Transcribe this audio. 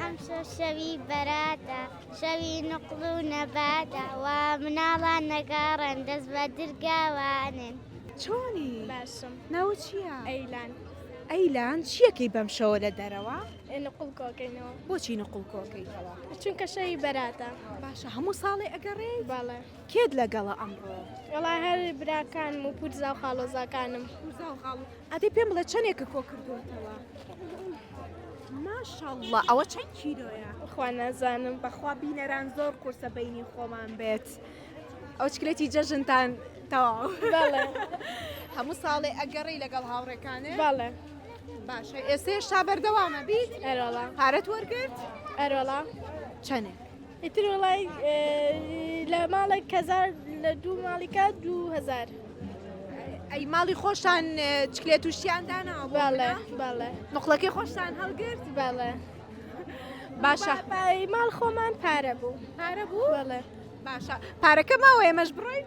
ئەمشەو شەوی بەراتە شەوی نوقڵ و نەباتە وا مناڵان نەگاڕن دەست بە درگاوانن چۆنی باشم ناوە چییە؟ ئەیلان ئەیلان چیەکەی بەم شەوە لە دەرەوە؟ نقڵ کۆکەینەوە بۆچی نقڵ کۆکەیتەوە؟ چونکە شەوی بەراتە باشە هەموو ساڵێ ئەگەڕێ باڵێ کێت لەگەڵە ئەمڕۆ؟ وڵا هەر براکان و پورزا و خاڵۆزاکانم پورزا و خاڵ ئەدی پێم بڵێ چەنێکە کۆ کردووەتەوە ماشاءاللە ئەوە چەند کیلۆیە خوا نازانم بەخوا بینەران زۆر قورسە بینی خۆمان بێت ئەو چکلێتی جەژنتان تەواو بەڵێ هەموو ساڵێ ئەگەڕی لەگەڵ هاوڕێکانێ بەڵێ باشە ئێسێ شا بەردەوامە بیت ئەرۆڵا پارەت وەرگرت ئەرۆڵا چەنێ ئیتر وەڵای لە ماڵێک کەزار لە دوو ماڵیکە دوو هزار. ئەی ماڵی خۆشان چکلێت تووشیان دانا باڵێ باڵێ مقلەکەی خۆشتان هەڵگرت باڵێ باشە ماڵ خۆمان پارە بوو پارە بوو باڵێ باشە پارەکە ماوە ئێمەش بڕۆین